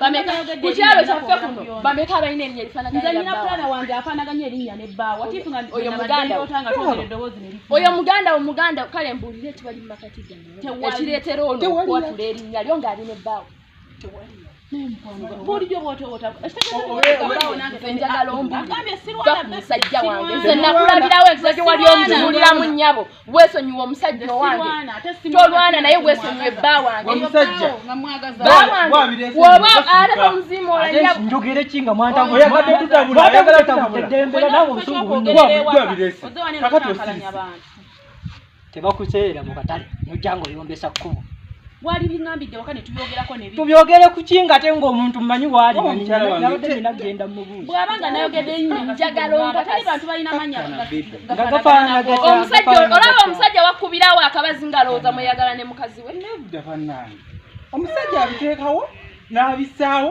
bameka ku kyalo kyaffe kuno bameka abalina erinnya erifaanaganyinza nyina muganda wange afaanaganya erinnya ne bbaawa oyo muganda wo muganda kale mbuulire tewali mu makati gaekireetera ono okwatula erinnya lyo ng'ali ne bbaawa bulijjo bwotowotaenjagala ombuulire musajja wange nze nakulabirawo enziza gye wali omutubuuliramu nnyabo wesonyiwa omusajja owange tolwana naye wesonyiwe bba wangewoba alaba omuzimu njogere ki nga mwantaoyagadde tutabulaagala tabutedembera nawe obusunguakati osirise tebakuseera mu katale nojja nga oyombesa kkubo wali bingambidde waka netubyogerako ne tubyogere ku ki ngate ng'omuntu mmanyi waali nabadde nina genda mubuuzi bw'aba nga nayogedde nnyo njagala onkatali bantu balina manya omusajja olaba omusajja wakubirawo akabazi ngalowooza mweyagala ne mukazi we omusajja abiteekawo n'abisaawo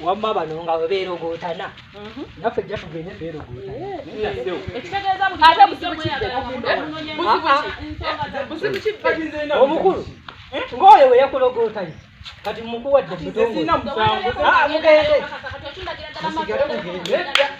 wamma bano nga bwe beerogootana mhm. naffe jja tugende beerogootanaomukulu ng'oyo we yakulogootanye kati mukuwadde mutongole ah, mugende musigale mugende